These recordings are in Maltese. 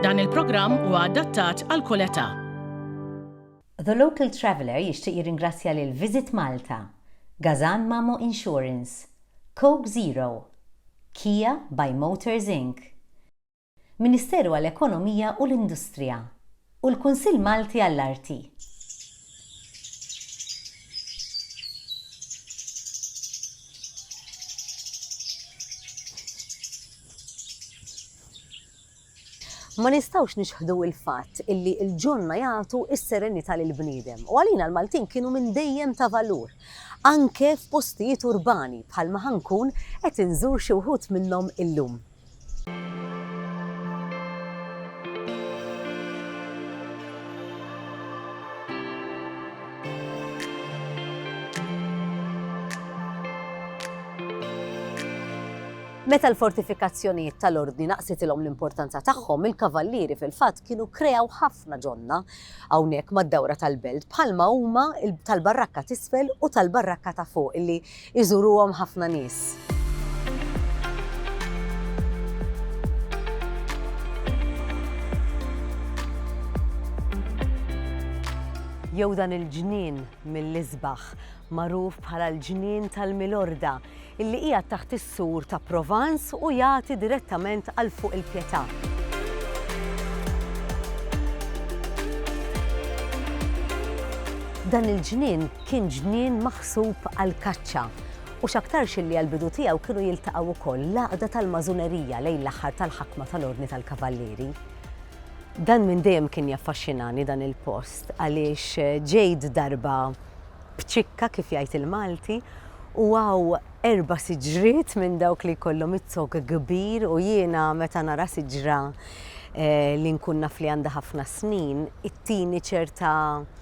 Dan il-programm huwa adattat għal kull età. The Local Traveller jixtieq jirringrazzja lil Visit Malta, Gazan Mamo Insurance, Coke Zero, Kia by Motors Inc. Ministeru għall-Ekonomija u l-Industrija. u l-Kunsill Malti għall-Arti. Ma nistgħux niċħdu l-fatt illi l-ġonna jagħtu s-serenità lill-bniedem u għalina l-Maltin kienu minn dejjem ta' valur, anke f'postijiet urbani bħalma ħa nkun qed inżur xi wħud minnhom illum. Meta l-fortifikazzjonijiet tal-Ordni naqsitilhom l-importanza tagħhom, il-kavallieri fil-fatt kienu kreaw ħafna ġonna hawnhekk mad-dawra tal-belt bħalma huma tal-barrakka t'isfel u tal-barrakka ta' fuq illi iżuruhom ħafna nies. jew dan il-ġnien mill-isbaħ magħruf bħala l-Ġnien tal-Milorda, illi qiegħed taħt is-sur ta' Provence u jagħti direttament għal fuq il-Pietà. Dan il-ġnien kien ġnien maħsub għall-kaċċa u x'aktarx illi għall-bidu tiegħu kienu jiltaqgħu wkoll l-għaqda tal-Masunerija lejn l-aħħar tal-ħakma tal-Ordni tal-Kavallieri. Dan minn dejjem kien jaffaxxinani dan il-post għaliex ġejt darba b'ċikka kif jgħid il-Malti u hawn erba' siġriet minn dawk li jkollhom iz-zokk kbir u jiena meta nara siġra li nkun naf li għandha ħafna snin ittini ċerta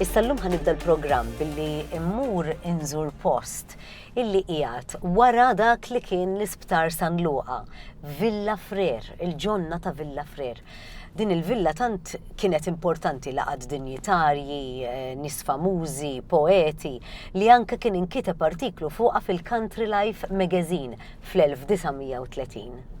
Issa llum ħanibda l-programm billi mmur inżur post illi qiegħed wara dak li kien l-Isptar San Luqa, Villa Frer, il-ġonna ta' Villa Frer. Din il-villa tant kienet importanti laqad dinjitarji, eh, nis famużi, poeti, li anke kien inkiteb artiklu fuqha fil-Country Life magazine fl-1930.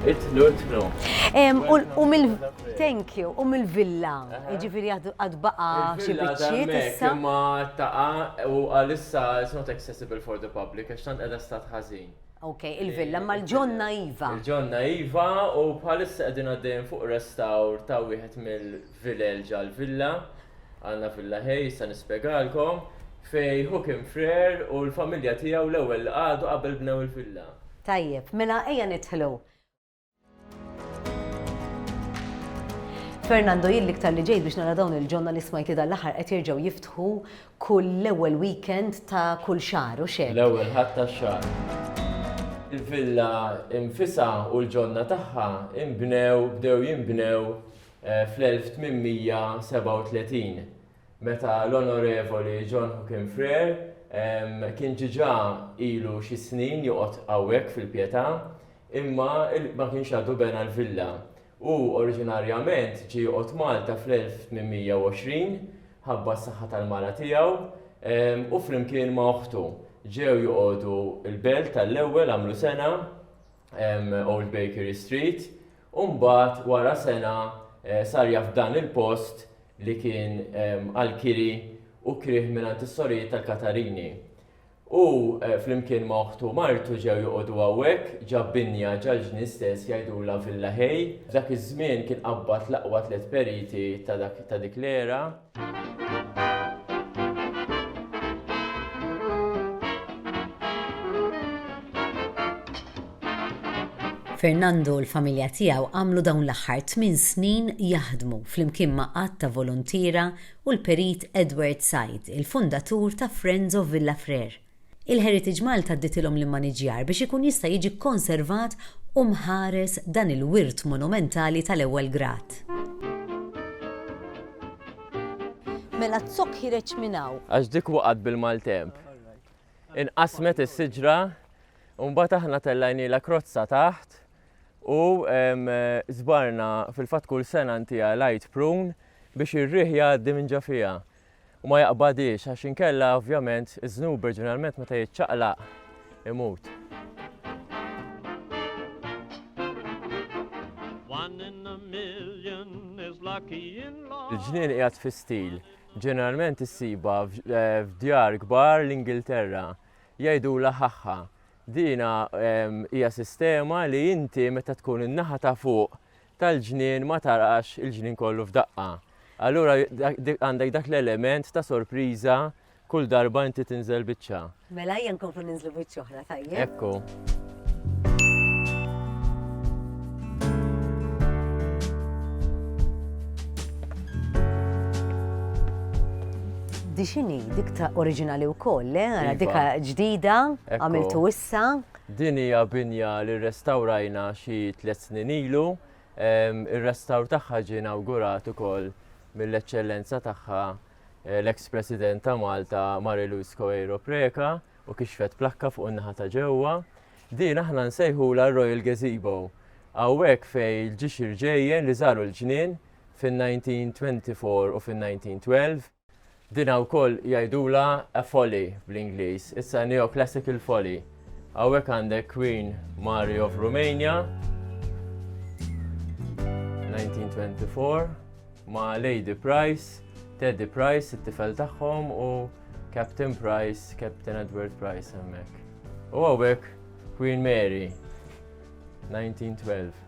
Itnu, itnu. Thank you, u mill-villa, ġifiri għad baqa xie bieċiet issa. Ma taqa u għalissa it's not accessible for the public, għax tant għedha stat ħazin. Ok, il-villa, ma l-ġonna Iva. Il-ġonna Iva u bħalissa għedin għaddejn fuq restawr ta' wieħed mill Vilel ġa l-villa, għandna villa ħej issa nispjegalkom, fejn hu kien frer u l-familja tiegħu l-ewwel qagħdu qabel bnew il-villa. Tajjeb, mela ejja nidħlu. Fernando, jien l-iktar li ġejt biex nara dawn il-ġonna li smajt li dal-aħħar qed jerġgħu jiftħu kull l-ewwel weekend ta' kull xahar u xejn. L-ewwel ħadd tax-xahar. Il-villa infisha u l-ġonna tagħha inbnew bdew jinbnew fl-1837, meta l-Onorevoli John Hookin Frere kien diġà ilu xi snin joqgħod hawnhekk fil-Pietà, imma ma kienx għadu bena l-villa. Hu oriġinarjament ġie joqgħod Malta fl-1820, ħabba s-saħħa tal-mara tiegħu, u flimkien ma' oħtu ġew joqogħdu l-Belt għall-ewwel għamlu sena, Old Bakery Street, u mbagħad wara sena sar jaf dan il-post li kien għal kiri u krih mingħand is-sorijiet tal-Katarini. Hu flimkien ma' oħtu u martu ġew joqogħdu hawnhekk, ġab binja ġal-ġnien stess jgħidulha Villa Hay. F'dak iż-żmien kien qabbad l-aqwa tliet periti ta' dik l-era. Fernando u l-familja tiegħu għamlu dawn l-aħħar tmien snin jaħdmu flimkien ma' għadd ta' voluntiera u l-Perit Edward Said, il-fundatur ta' Friends of Villafrère. Il-Heritage Malta dditilhom l-immaniġġjar biex ikun jista' jiġi kkonservat u mħares dan il-wirt monumentali tal-ewwel grad. Mela z-zokk ħireġ minn hawn. Għax dik waqgħet bil-maltemp. Inqasmet is-siġra u mbagħad aħna tellajnielha krozza taħt u żbarna fil-fatt kull sena ntiha light prune biex ir-riħ jgħaddi minn ġo fiha. u ma jaqbadhiex għax inkella ovvjament iż-żnub oriġinalment meta jiċċaqlaq imut. Il-ġnien qiegħed fi stil. Ġeneralment issiba eh, f'djar kbar l-Ingilterra. Jgħidu la ħaħħa. Dina ehm, hija sistema li inti meta tkun in-naħa ta' fuq tal-ġnien ma tarax il-ġnien kollu f'daqqa. Allura għandek dak l-element ta' sorpriża kull darba inti tinżel biċċa. Mela ejja nkomplu ninżlu biċċa oħra tajjeb. Ekku. Dixini, dik ta' oriġinali wkoll, le? Għara iva. dika ġdida, għamiltu issa. Din hija binja li rrestawrajna xi tliet snin ilu. Ir-restawr tagħha ġie inawgurat ukoll mill-Eċċellenza Tagħha l-eks President ta' Malta Marie Louise Coeiro Preca u kixfet plakka fuq in-naħa ta' ġewwa. Din aħna nsejħulha r-Royal Gazebo. Hawnhekk fejn il-ġixir ġejjen li żaru l-ġnien fin-1924 u fin-1912, Dinha wkoll jgħidulha a folly bl-Ingliż, issa neoclassical folly. Hawnhekk għandek Queen Mary of Romania 1924 ma' Lady Price, Teddy Price, it-tifel tagħhom u Captain Price, Captain Edward Price hemmhekk. U hawnhekk Queen Mary 1912.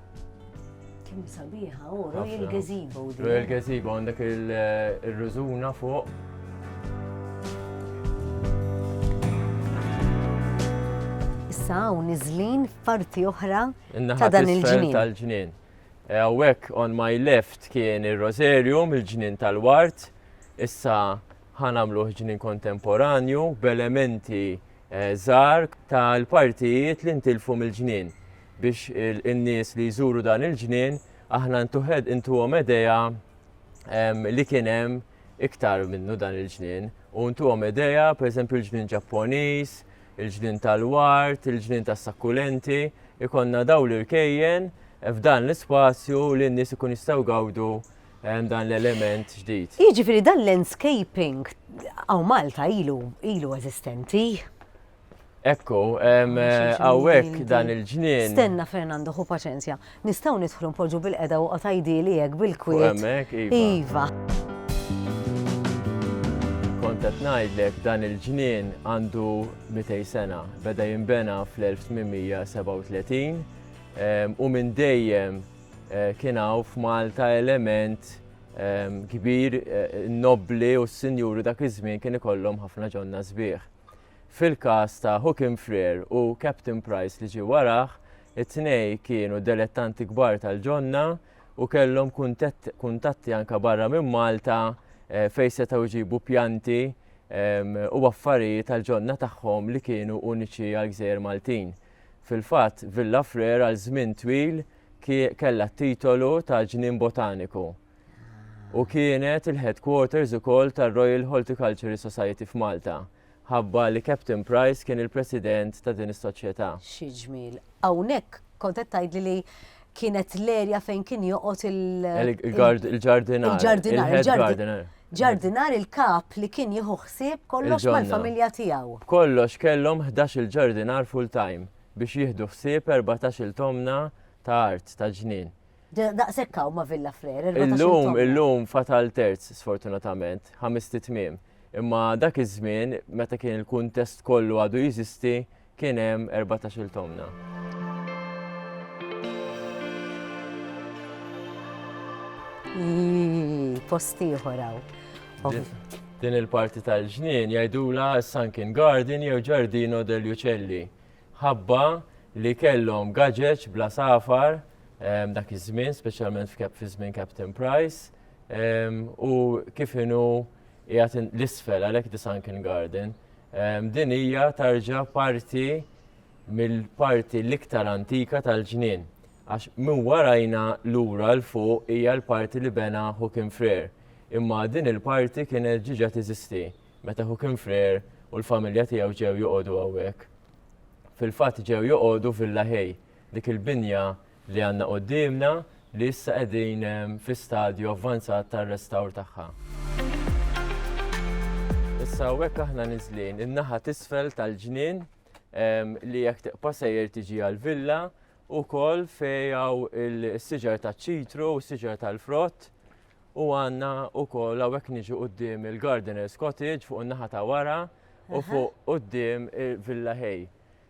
Kim sabiħa, u oh, Royal Gazebo. Royal Gazebo għandek il-rużuna fuq. Issa u nizlin parti oħra ta' dan il-ġnien. tal-ġnien. Għawek on my left kien il-Rosarium, il-ġnien tal-wart. Issa ħanamlu ġnien kontemporanju b'elementi żgħar ta' l-partijiet li ntilfu mill-ġnien biex in-nies li jżuru dan il-ġnien aħna ntuhom idea li kien hemm iktar minnu dan il-ġnien u ntuhom idea pereżempju l-ġnien Ġapponiż, il-ġnien tal-ward, il-ġnien tas-sakkulenti, ikollna dawn l-irkejjen f'dan l-ispazju li n-nies ikun jistgħu jgawdu hemm dan l-element ġdid. Jiġifieri dan l-landscaping hawn Malta ilu ilu eżistenti. Ekku, hemm hawnhekk dan il-ġnien. Stenna Fernando, ħu paċenzja. Nistgħu nidħlu npoġġu bil-qeda u qatajdili hekk bil-kwiet. Hemmhekk, iva. Iva. Kont qed ngħidlek dan il-ġnien għandu 200 sena. Beda jinbena fl-1837 u minn dejjem Eh, kien hawn f'Malta element ehm, kbir eh, nobbli u s-sinjuri dak iż-żmien kien ikollhom ħafna ġonna sbieħ. Fil-każ ta' Hookin Freer u Captain Price li ġie warah, it-tnej kienu delettanti kbar tal-ġonna u kellhom kuntatti anka barra minn Malta eh, fejn setgħu jġibu pjanti ehm, u affarijiet tal-ġonna tagħhom li kienu uniċi għal gżejjer Maltin. Fil-fatt, Villa Frere għal żmien twil kellha t-titolu ta' Ġnien Botaniku u kienet il-headquarters ukoll tar-Royal Horticultural Society f'Malta, ħabba li Captain Price kien il-President ta' din is-soċjetà. Xi ġmiel. Hawnhekk kont qed tgħidli li kienet l-erja fejn kien joqgħod il- Il-gardinar. Il-ġardinar. Il-head gardener. Ġardinar il-kap li kien jieħu ħsieb kollox mal-familja tiegħu. B'kollox kellhom ħdax-il ġardinar full-time biex jieħdu ħsieb erbatax-il tomna ta' art ta' ġnien. Daqshekk hawn ma' Villa Frere, erbatax-il tomna. Illum, illum fatal terz, sfortunatament, ħamist it-tmiem. Imma dak iż-żmien, meta kien il-kuntest kollu għadu jeżisti, Kien hemm erbatax-il tomna. post ieħor Din il-parti tal-ġnien jgħidula Sunken Garden jew Ġardino del Uccelli. Ħabba li kellhom gaġeġ bla safar ehm, dak iż-żmien, speċjalment fi żmien Captain Price, ehm, u kif inhu qiegħed l-isfel għalhekk di Sunken Garden. Din hija tarġa parti mill-parti l-iktar antika tal-ġnien, għax minn warajna lura 'l fuq hija l-parti li bena Joachim Freer, imma din il-parti kienet ġiġa tiżisti meta Joachim Freer u l-familja tiegħu ġew joqogħdu hawnhekk. Fil-fatt ġew joqogħdu Villa Hey, dik il-binja li għandna quddiemna li issa qegħdin fi stadju avvanzat tar-restawr tagħha. Issa hawnhekk aħna niżlin in-naħa t'isfel tal-ġnien li jekk tiqpa' sejjer tiġi għall-villa wkoll fejn hawn is-siġar taċ-ċitru u s-siġar tal-frott u għandna wkoll hawnhekk niġu quddiem il-Gardener's Cottage fuq in-naħa ta' wara u fuq quddiem il-Villa Hay.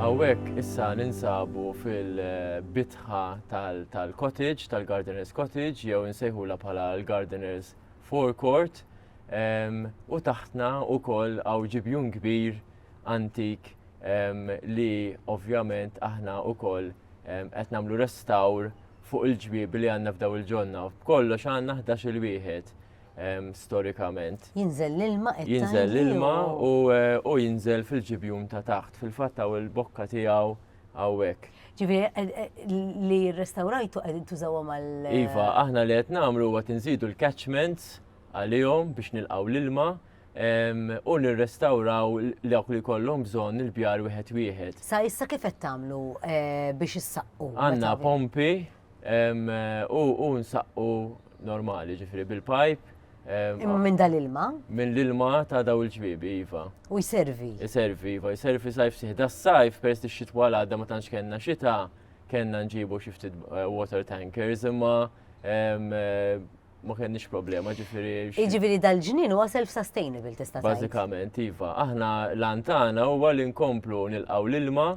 Hawnhekk issa ninsabu fil-bitħa tal-cottage, tal-gardener's cottage, jew insejħula bħala l-gardener's forecourt. U taħtna wkoll hawn ġibjun kbir antik li ovvjament aħna wkoll qed nagħmlu restawr fuq il-ġwiebi li għandna f'dawn il-ġonna. B'kollox għandna ħdax-il wieħed. storikament. Jinżel l-ilma qed Jinżel l-ilma u jinżel fil-ġibjun ta' taħt, fil-fatt hawn il-bokka tiegħu hawnhekk. Ġifieri eh, eh, li rrestawrajtu qegħdin tużawha mal Iva, aħna li qed nagħmlu huwa tinżidu l-catchments għalihom biex nilqgħu l-ilma u nirrestawraw dawk li kollhom bżonn il-bjar wieħed wieħed. Sa issa kif qed tagħmlu eh, biex issaqqu? Għandna pompi U nsaqqu normali, ġifiri bil-pajp. Imma minn dal-ilma? Minn l-ilma ta' daw il-ġbibi, Iva. U jservi? Jservi, Iva, jservi sajf siħ. Da sajf, peress li xitwa l-għadda ma tantx kellna xita, kellna nġibu xiftit eh, water tankers, imma ma kenniex problema ġifiri. Ġifiri dal-ġnien huwa self-sustainable tista' Bażikament, iva. Aħna l-antana huwa li nkomplu nilqaw l-ilma,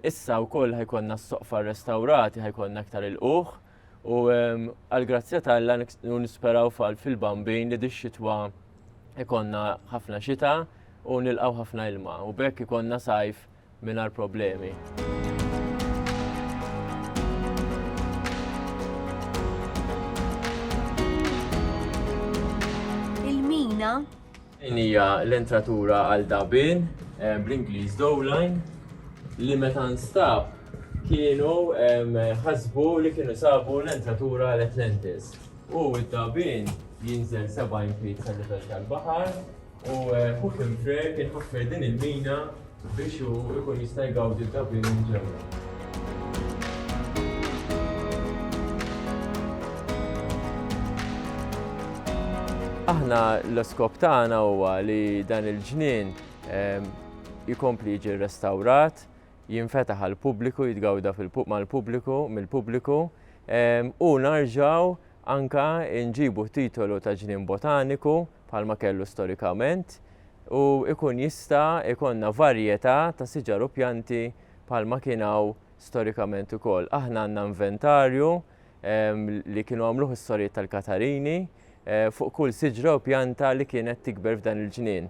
issa wkoll ħajkonna s-soqfa restawrati, ħajkonna aktar il-quħ, u għal-grazzja tal-la nisperaw fall fil-bambin li dix-xitwa ikonna ħafna xita u nilqaw ħafna ilma. U bekk ikonna sajf mingħajr problemi. Din hija l-entratura għal dabin eh, bl-Ingliż dowline li meta nstab kienu ħasbu li kienu sabu l-entratura l-Atlantis. U id-dabin jinżel 70 feet sa' livell tal-baħar U fuq il-frek iħaffer din il-mina biex u ikun jista' jgawdi d-dabin ġewwa. Aħna l-iskop tagħna huwa li dan il-ġnien ehm, jikompli jiġi restawrat, jinfetaħ għal pubbliku jitgawda mal-pubbliku, mill-pubbliku, ehm, u narġaw anka nġibu titolu ta' ġnien botaniku bħalma kellu storikament u jkun jista' jkollna varjetà ta' siġar u pjanti bħalma kien hawn storikament ukoll. Aħna għandna inventarju li kienu għamluh is-sorijiet tal-Katarini eh, fuq kull siġra u pjanta li kienet tikber f'dan il-ġnien.